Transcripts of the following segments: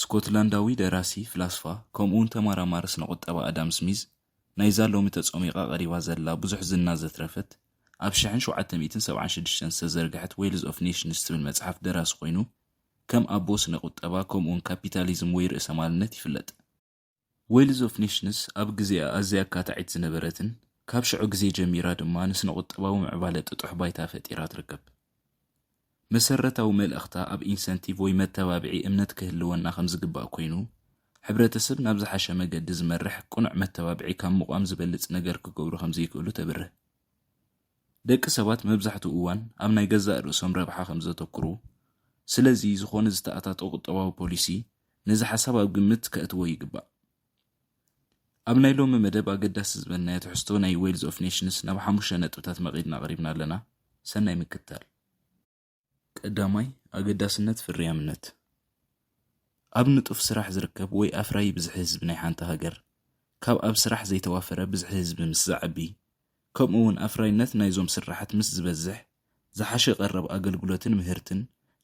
ስኮትላንዳዊ ደራሲ፣ ፍላስፋ፣ ከምኡውን ተማራማሪ ስነ-ቁጠባ ኣዳም ስሚዝ፣ ናይዛ ሎሚ ተጾሚቓ ቀሪባ ዘላ ብዙሕ ዝና ዘትረፈት፣ ኣብ ሽሕን ሸውዓተ ሚእትን ሰብዓን ሽዱሽተን ዝተዘርግሐት ዌልዝ ኦፍ ኔሽንስ ትብል መጽሓፍ ደራሲ ኮይኑ፣ ከም ኣቦ ስነ-ቁጠባ ከምኡውን ካፒታሊዝም ወይ ርእሰማልነት ይፍለጥ። ዌልዝ ኦፍ ኔሽንስ ኣብ ግዜኣ ኣዝያ ኣካታዒት ዝነበረትን ካብ ሽዑ ግዜ ጀሚራ ድማ ንስነ-ቁጠባዊ ምዕባለ ጥጡሕ ባይታ ፈጢራ ትርከብ። መሰረታዊ መልእኽታ ኣብ ኢንሰንቲቭ ወይ መተባብዒ እምነት ክህልወና ከም ዝግባእ ኮይኑ፣ ሕብረተሰብ ናብ ዝሓሸ መገዲ ዝመርሕ ቅኑዕ መተባብዒ ካብ ምቛም ዝበልጽ ነገር ክገብሩ ከም ዘይክእሉ ተብርህ። ደቂ ሰባት መብዛሕትኡ እዋን ኣብ ናይ ገዛእ ርእሶም ረብሓ ከም ዘተኵሩ፣ ስለዚ ዝዀነ ዝተኣታቶ ቍጠባዊ ፖሊሲ ነዚ ሓሳብ ኣብ ግምት ከእትዎ ይግባእ። ኣብ ናይ ሎሚ መደብ ኣገዳሲ ዝበልናዮ ትሕዝቶ ናይ ዌልዝ ኦፍ ኔሽንስ ናብ ሓሙሽተ ነጥብታት መቒድና ኣቕሪብና ኣለና። ሰናይ ምክትታል። ቀዳማይ፣ ኣገዳስነት ፍርያምነት። ኣብ ንጡፍ ስራሕ ዝርከብ ወይ ኣፍራዪ ብዝሒ ህዝቢ ናይ ሓንቲ ሃገር፣ ካብ ኣብ ስራሕ ዘይተዋፈረ ብዝሒ ህዝቢ ምስ ዝዓቢ፣ ከምኡ እውን ኣፍራይነት ናይዞም ስርሓት ምስ ዝበዝሕ፣ ዝሓሸ ቀረብ ኣገልግሎትን ምህርትን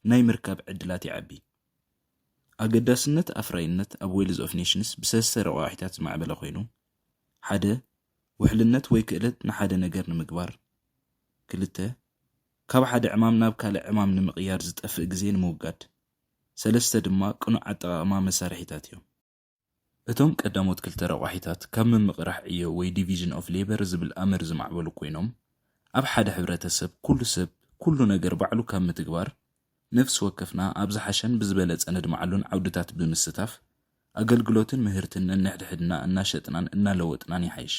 ናይ ምርካብ ዕድላት ይዓቢ። ኣገዳስነት ኣፍራይነት ኣብ ዌልዝ ኦፍ ኔሽንስ ብሰለስተ ረቋሒታት ዝማዕበለ ኮይኑ፣ ሓደ፣ ውሕልነት ወይ ክእለት ንሓደ ነገር ንምግባር። ክልተ፣ ካብ ሓደ ዕማም ናብ ካልእ ዕማም ንምቕያር ዝጠፍእ ግዜ ንምውጋድ። ሰለስተ ድማ ቅኑዕ ኣጠቓቕማ መሳርሒታት እዮም። እቶም ቀዳሞት ክልተ ረቋሒታት ካብ ምምቕራሕ ዕዮ ወይ ዲቪዥን ኦፍ ሌበር ዝብል ኣምር ዝማዕበሉ ኮይኖም፣ ኣብ ሓደ ሕብረተሰብ ኩሉ ሰብ ኩሉ ነገር ባዕሉ ካብ ምትግባር ነፍሲ ወከፍና ኣብ ዝሓሸን ብዝበለፀ ነድምዓሉን ዓውድታት ብምስታፍ ኣገልግሎትን ምህርትን ነንሕድሕድና እናሸጥናን እናለወጥናን ይሓይሽ።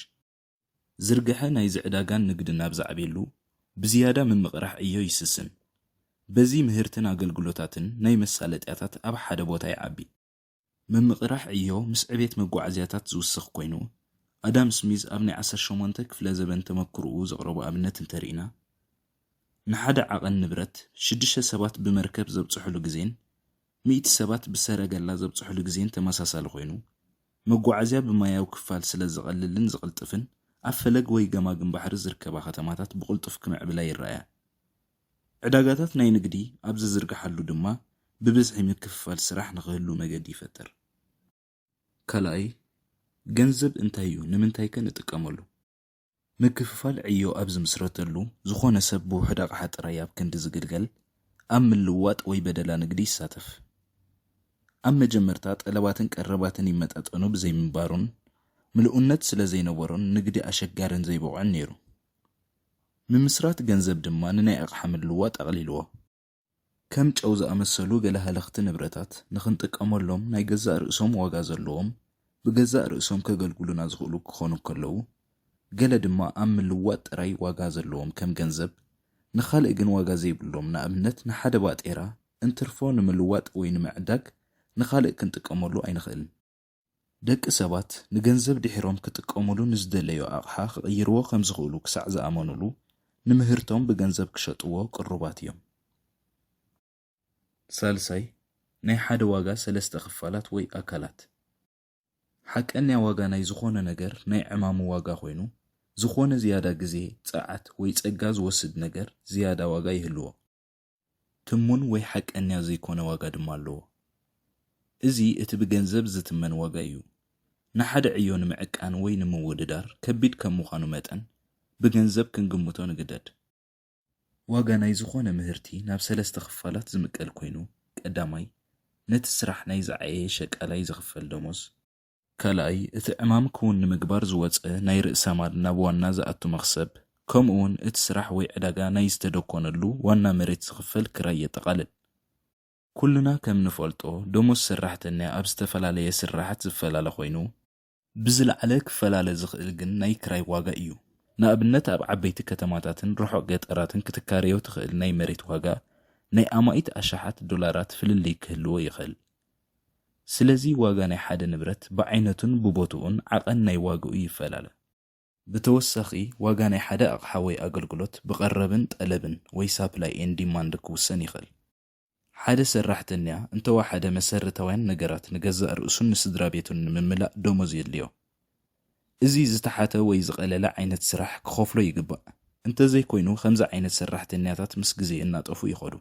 ዝርግሐ ናይዚ ዕዳጋን ንግድን ኣብ ዝዓብየሉ ብዝያዳ ምምቕራሕ ዕዮ ይስስን። በዚ ምህርትን ኣገልግሎታትን ናይ መሳለጥያታት ኣብ ሓደ ቦታ ይዓቢ። ምምቕራሕ ዕዮ ምስ ዕቤት መጓዓዝያታት ዝውስኽ ኮይኑ፣ ኣዳም ስሚዝ ኣብ ናይ ዓሰርተ ሸሞንተ ክፍለ ዘበን ተመክሮኡ ዘቕረቦ ኣብነት እንተርኢና፣ ንሓደ ዓቐን ንብረት ሽዱሽተ ሰባት ብመርከብ ዘብጽሑሉ ግዜን ሚእቲ ሰባት ብሰረገላ ዘብጽሑሉ ግዜን ተመሳሳሊ ኮይኑ፣ መጓዓዝያ ብማያዊ ክፋል ስለ ዝቐልልን ዝቕልጥፍን ኣብ ፈለግ ወይ ገማግም ባሕሪ ዝርከባ ከተማታት ብቕልጡፍ ክምዕብላ ይረኣያ። ዕዳጋታት ናይ ንግዲ ኣብ ዝዝርግሓሉ ድማ ብብዝሒ ምክፍፋል ስራሕ ንኽህሉ መገዲ ይፈጥር። ካልኣይ፣ ገንዘብ እንታይ እዩ፣ ንምንታይከ ንጥቀመሉ? ምክፍፋል ዕዮ ኣብ ዝምስረተሉ፣ ዝኾነ ሰብ ብውሑድ ኣቕሓ ጥራይ ኣብ ክንዲ ዝግልገል፣ ኣብ ምልውዋጥ ወይ በደላ ንግዲ ይሳተፍ። ኣብ መጀመርታ ጠለባትን ቀረባትን ይመጣጠኑ ብዘይምንባሩን ምሉእነት ስለዘይነበሮን ንግዲ ኣሸጋርን ዘይብቑዕን ነይሩ። ምምስራት ገንዘብ ድማ ንናይ ኣቕሓ ምልዋጥ ኣቕሊልዎ። ከም ጨው ዝኣመሰሉ ገለ ሃለኽቲ ንብረታት፣ ንኽንጥቀመሎም ናይ ገዛእ ርእሶም ዋጋ ዘለዎም፣ ብገዛእ ርእሶም ከገልግሉና ዝኽእሉ ክኾኑ እንከለዉ፣ ገለ ድማ ኣብ ምልዋጥ ጥራይ ዋጋ ዘለዎም ከም ገንዘብ፣ ንኻልእ ግን ዋጋ ዘይብሎም፣ ንኣብነት ንሓደ ባጤራ እንትርፎ ንምልዋጥ ወይ ንምዕዳግ ንኻልእ ክንጥቀመሉ ኣይንኽእልን። ደቂ ሰባት ንገንዘብ ድሒሮም ክጥቀሙሉ ንዝደለዩ ኣቕሓ ክቕይርዎ ከም ዝኽእሉ ክሳዕ ዝኣመኑሉ፣ ንምህርቶም ብገንዘብ ክሸጥዎ ቅሩባት እዮም። ሳልሳይ፣ ናይ ሓደ ዋጋ ሰለስተ ክፋላት ወይ ኣካላት። ሓቀኛ ዋጋ ናይ ዝኾነ ነገር ናይ ዕማሙ ዋጋ ኮይኑ፣ ዝኾነ ዝያዳ ግዜ፣ ጸዓት ወይ ጸጋ ዝወስድ ነገር ዝያዳ ዋጋ ይህልዎ። ትሙን ወይ ሓቀኛ ዘይኮነ ዋጋ ድማ ኣለዎ። እዚ እቲ ብገንዘብ ዝትመን ዋጋ እዩ። ንሓደ ዕዮ ንምዕቃን ወይ ንምውድዳር ከቢድ ከም ምዃኑ መጠን፣ ብገንዘብ ክንግምቶ ንግደድ። ዋጋ ናይ ዝኾነ ምህርቲ ናብ ሰለስተ ክፋላት ዝምቀል ኮይኑ፣ ቀዳማይ፣ ነቲ ስራሕ ናይ ዝዓየየ ሸቃላይ ዝኽፈል ደሞዝ፣ ካልኣይ፣ እቲ ዕማም ክዉን ንምግባር ዝወጸ ናይ ርእሰማል ናብ ዋና ዝኣቱ መኽሰብ፣ ከምኡ'ውን እቲ ስራሕ ወይ ዕዳጋ ናይ ዝተደኮነሉ ዋና መሬት ዝኽፈል ክራይ የጠቓልል። ኩልና ከም ንፈልጦ፣ ደሞዝ ሰራሕተኛ ኣብ ዝተፈላለየ ስርሓት ዝፈላለ ኮይኑ፣ ብዝለዓለ ክፈላለ ዝኽእል ግን ናይ ክራይ ዋጋ እዩ ንኣብነት ኣብ ዓበይቲ ከተማታትን ርሑቕ ገጠራትን ክትካረዮ ትኽእል ናይ መሬት ዋጋ ናይ ኣማኢት ኣሽሓት ዶላራት ፍልልይ ክህልዎ ይኽእል። ስለዚ ዋጋ ናይ ሓደ ንብረት ብዓይነቱን ብቦትኡን ዓቐን ናይ ዋግኡ ይፈላለ። ብተወሳኺ ዋጋ ናይ ሓደ ኣቕሓ ወይ ኣገልግሎት ብቐረብን ጠለብን ወይ ሳፕላይ ኤን ዲማንድ ክውሰን ይኸእል። ሓደ ሰራሕተኛ እንተወሓደ መሰርታውያን ነገራት ንገዛእ ርእሱን ንስድራቤቱን ንምምላእ ደሞዝ የድልዮ። እዚ ዝተሓተ ወይ ዝቐለለ ዓይነት ስራሕ ክኸፍሎ ይግባእ። እንተዘይኮይኑ ከምዚ ዓይነት ሰራሕተኛታት ምስ ግዜ እናጠፍኡ ይኸዱ።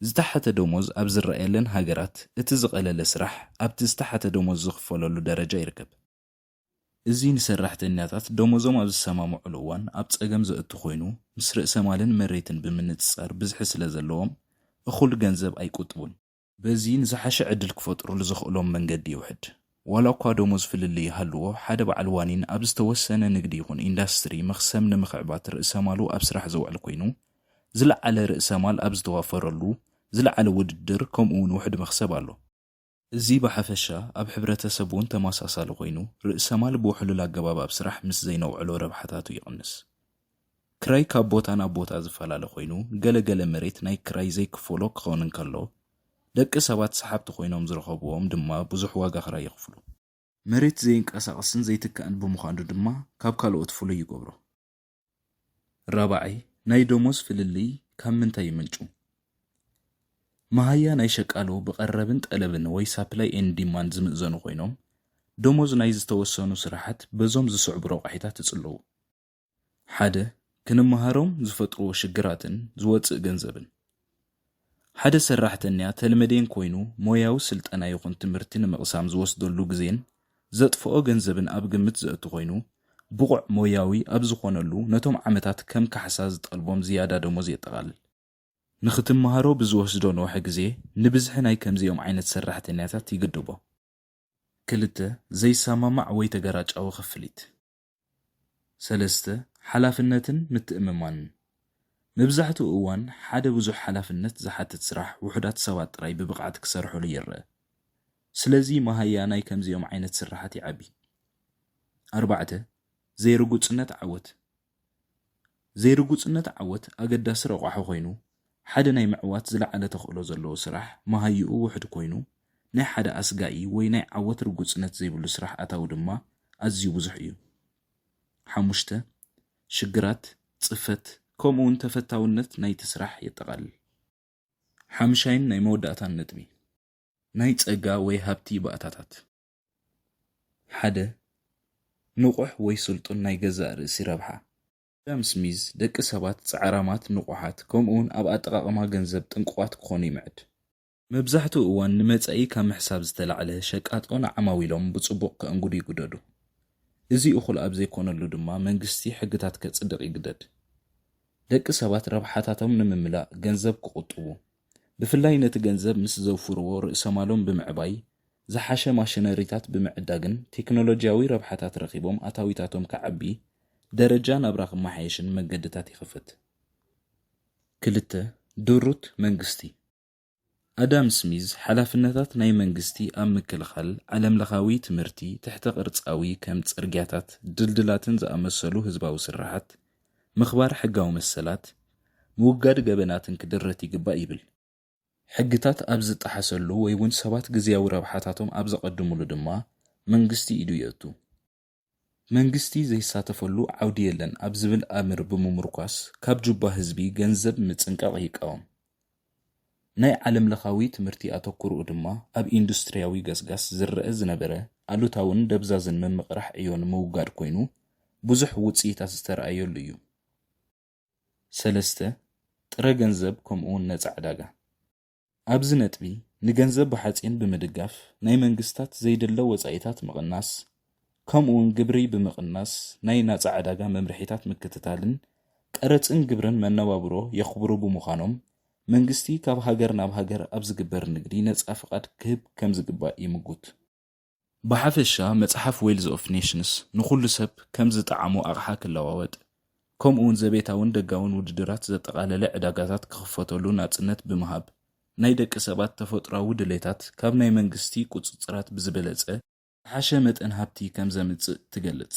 ዝተሓተ ደሞዝ ኣብ ዝረኣየለን ሃገራት እቲ ዝቐለለ ስራሕ ኣብቲ ዝተሓተ ደሞዝ ዝኽፈለሉ ደረጃ ይርከብ። እዚ ንሰራሕተኛታት ደሞዞም ኣብ ዝሰማምዑሉ እዋን ኣብ ፀገም ዘእቱ ኮይኑ ምስ ርእሰ ማልን መሬትን ብምንፅፃር ብዝሒ ስለዘለዎም እኹል ገንዘብ ኣይቁጥቡን። በዚ ንዝሓሸ ዕድል ክፈጥሩሉ ዘኽእሎም መንገዲ ይውሕድ። ዋላ'ኳ ደሞዝ ፍልልይ ይሃልዎ፣ ሓደ በዓል ዋኒን ኣብ ዝተወሰነ ንግዲ ይኹን ኢንዳስትሪ መኽሰብ ንምኽዕባት ርእሰማሉ ኣብ ስራሕ ዘውዕል ኮይኑ፣ ዝለዓለ ርእሰማል ኣብ ዝተዋፈረሉ፣ ዝለዓለ ውድድር ከምኡ'ውን ውሑድ መኽሰብ ኣሎ። እዚ ብሓፈሻ ኣብ ሕብረተሰብ'ውን ተመሳሳሊ ኮይኑ፣ ርእሰማል ብውሕሉል ኣገባብ ኣብ ስራሕ ምስ ዘይነውዕሎ ረብሓታቱ ይቕንስ። ክራይ ካብ ቦታ ናብ ቦታ ዝፈላለ ኮይኑ፣ ገለ ገለ መሬት ናይ ክራይ ዘይክፈሎ ክኸውን እንከሎ፣ ደቂ ሰባት ሰሓብቲ ኮይኖም ዝረኸብዎም ድማ ብዙሕ ዋጋ ክራይ ይኽፍሉ። መሬት ዘይንቀሳቐስን ዘይትካእን ብምዃኑ ድማ ካብ ካልኦት ፍሉይ ይገብሮ። ራብዓይ፣ ናይ ደሞዝ ፍልልይ ካብ ምንታይ ይምንጩ? መሃያ ናይ ሸቃሎ ብቐረብን ጠለብን ወይ ሳፕላይ ኤንድ ዲማንድ ዝምእዘኑ ኮይኖም፣ ደሞዝ ናይ ዝተወሰኑ ስራሓት በዞም ዝስዕቡ ረቋሒታት ይጽለዉ። ሓደ ክንመሃሮም ዝፈጥርዎ ሽግራትን ዝወጽእ ገንዘብን። ሓደ ሰራሕተኛ ተልመዴን ኮይኑ ሞያዊ ስልጠና ይኹን ትምህርቲ ንምቕሳም ዝወስደሉ ግዜን ዘጥፍኦ ገንዘብን ኣብ ግምት ዘእቱ ኮይኑ ብቑዕ ሞያዊ ኣብ ዝኾነሉ ነቶም ዓመታት ከም ካሕሳ ዝጠልቦም ዝያዳ ደሞዝ የጠቓልል። ንኽትመሃሮ ብዝወስዶ ንውሐ ግዜ ንብዝሒ ናይ ከምዚኦም ዓይነት ሰራሕተኛታት ይግድቦም። ክልተ፣ ዘይሰማማዕ ወይ ተገራጫዊ ክፍሊት። ሰለስተ፣ ሓላፍነትን ምትእምማንን፣ መብዛሕትኡ እዋን ሓደ ብዙሕ ሓላፍነት ዝሓትት ስራሕ ውሑዳት ሰባት ጥራይ ብብቕዓት ክሰርሑሉ ይረኣ። ስለዚ መሃያ ናይ ከምዚኦም ዓይነት ስርሓት ይዓቢ። ኣርባዕተ፣ ዘይርጉጽነት ዓወት፣ ዘይርጉጽነት ዓወት ኣገዳሲ ረቋሒ ኮይኑ፣ ሓደ ናይ ምዕዋት ዝለዓለ ተኽእሎ ዘለዎ ስራሕ መሃይኡ ውሑድ ኮይኑ፣ ናይ ሓደ ኣስጋኢ ወይ ናይ ዓወት ርጉጽነት ዘይብሉ ስራሕ ኣታዊ ድማ ኣዝዩ ብዙሕ እዩ። ሓሙሽተ፣ ሽግራት፣ ጽፈት፣ ከምኡ'ውን ተፈታውነት ናይቲ ስራሕ የጠቓልል። ሓምሻይን ናይ መወዳእታን ነጥቢ። ናይ ጸጋ ወይ ሃብቲ ባእታታት። ሓደ ንቑሕ ወይ ስልጡን ናይ ገዛእ ርእሲ ረብሓ። ኣዳም ስሚዝ፣ ደቂ ሰባት ጻዕራማት፣ ንቑሓት፣ ከምኡውን ኣብ ኣጠቓቕማ ገንዘብ ጥንቁቓት ክዀኑ ይምዕድ። መብዛሕትኡ እዋን ንመጻኢ ካብ ምሕሳብ ዝተላዕለ፣ ሸቃጦ ንዓማዊሎም ብጽቡቕ ከእንግዱ ይግደዱ። እዚ እኹል ኣብ ዘይኰነሉ ድማ መንግስቲ ሕግታት ከጽድቕ ይግደድ። ደቂ ሰባት ረብሓታቶም ንምምላእ ገንዘብ ክቝጥቡ፣ ብፍላይ ነቲ ገንዘብ ምስ ዘውፍርዎ ርእሰማሎም ብምዕባይ፣ ዝሓሸ ማሽነሪታት ብምዕዳግን ቴክኖሎጂያዊ ረብሓታት ረኺቦም ኣታዊታቶም ክዓቢ፣ ደረጃ ናብራ ክመሓየሽን መገድታት ይኸፍት። ክልተ፣ ድሩት መንግስቲ። ኣዳም ስሚዝ ሓላፍነታት ናይ መንግስቲ ኣብ ምክልኻል፣ ዓለምለኻዊ ትምህርቲ፣ ትሕተ-ቅርጻዊ ከም ጽርግያታት፣ ድልድላትን ዝኣመሰሉ ህዝባዊ ስርሓት፣ ምኽባር ሕጋዊ መሰላት፣ ምውጋድ ገበናትን ክድረት ይግባእ ይብል። ሕግታት ኣብ ዝጠሓሰሉ ወይ ውን ሰባት ግዝያዊ ረብሓታቶም ኣብ ዘቐድሙሉ ድማ መንግስቲ ኢዱ የእቱ። መንግስቲ ዘይሳተፈሉ ዓውዲ የለን ኣብ ዝብል ኣምር ብምሙርኳስ ካብ ጁባ ህዝቢ ገንዘብ ምጽንቃቕ ይቃወም። ናይ ዓለምለኻዊ ትምህርቲ ኣተኩሮኡ ድማ ኣብ ኢንዱስትሪያዊ ገስጋስ ዝረኣ ዝነበረ ኣሉታውን ደብዛዝን ምምቕራሕ ዕዮ ንምውጋድ ኮይኑ ብዙሕ ውጽኢታት ዝተራእየሉ እዩ። ሰለስተ፣ ጥረ ገንዘብ ከምኡውን ነጻ ዕዳጋ። ኣብዚ ነጥቢ ንገንዘብ ብሓጺን ብምድጋፍ ናይ መንግስታት ዘይድለ ወጻኢታት ምቕናስ፣ ከምኡውን ግብሪ ብምቕናስ ናይ ናፃ ዕዳጋ መምርሒታት ምክትታልን ቀረፅን ግብርን መነባብሮ የኽብሩ ብምዃኖም መንግስቲ ካብ ሃገር ናብ ሃገር ኣብ ዝግበር ንግዲ ነፃ ፍቓድ ክህብ ከምዝግባእ ይምጉት። ብሓፈሻ መፅሓፍ ዌልዝ ኦፍ ኔሽንስ ንኹሉ ሰብ ከም ዝጠዓሞ ኣቕሓ ክለዋወጥ ከምኡውን ዘቤታውን ደጋውን ውድድራት ዘጠቓለለ ዕዳጋታት ክኽፈተሉ ናፅነት ብምሃብ ናይ ደቂ ሰባት ተፈጥሮኣዊ ድሌታት ካብ ናይ መንግስቲ ቁፅፅራት ብዝበለፀ ዝሓሸ መጠን ሃብቲ ከም ዘምጽእ ትገልጽ።